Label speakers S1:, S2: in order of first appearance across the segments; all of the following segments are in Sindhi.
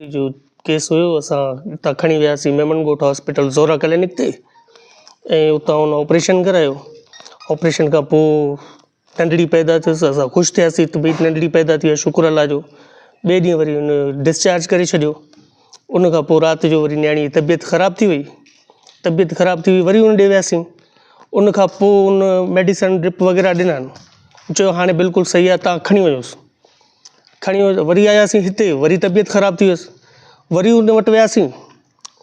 S1: جو ڪيس هيو اسان اتان کڻي وياسين ميمڻ ڳوٺ هاسپيٽل زورا ڪلينڪ تي ۽ اتان هن آپريشن ڪرايو آپريشن کان پوء ننڍڙي پيدا ٿيس اسان خوش ٿياسين ته ڀئي ننڍڙي پيدا ٿي آهي شڪر الله جو ٻئي ڏينهن وري هن ڊسچارج ڪري ڇڏيو ان کان پوء رات جو وري نياڻي جي طبيعت خراب ٿي وئي طبيعت خراب ٿي وئي وري هن ڏي وياسين ان کان پوء هن ميڊيسن ڊرپ وغيره ڏنا چيو هاڻي بلڪل صحيح آهي تان کڻي وڃوس کڻي وري آياسين هتي وري طبيعت خراب ٿي ويس وري ان وٽ وياسين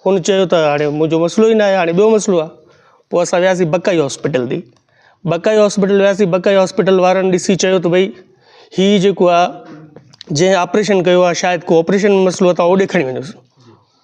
S1: هن چيو ته هاڻي منهنجو مسئلو ئي ناهي هاڻي ٻيو مسئلو آهي پوء اسان وياسين بڪائي هاسپيٽل ڏي بڪائي هاسپيٽل وياسين بڪائي هاسپيٽل وارن ڏسي چيو ته ڀئي هي جيڪو آهي جنهن آپريشن ڪيو آهي شايد ڪو آپريشن مسئلو اٿائو هوڏي کڻي وڃوس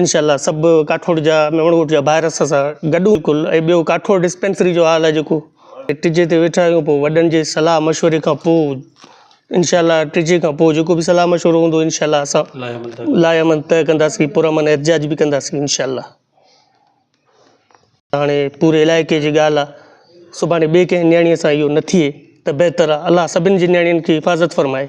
S1: انشاء الله سڀ ڪاٺوڙ جا ميمڻ ڳوٺ جا ڀائر اسان سان گڏ هون ڪل ۽ ٻيو ڪاٺوڙ ڊسپينسري جو حال آهي جيڪو ٽجي تي ويٺا آهيون پوء وڏن جي صلاح مشوري کان پوء انشاء الله ٽجي کان پوء جيڪو به صلاح مشورو هوندو انشاء الله اسان لاء امن طئي ڪنداسين پرامن احتجاج به ڪنداسين انشاء الله هاڻي پوري علائقي جي ڳالهه آهي سڀاڻي ٻي ڪنهن نياڻيء سان اهو نه ٿئي ته بهتر آهي الله سڀني جي نياڻين کي حفاظت فرمائي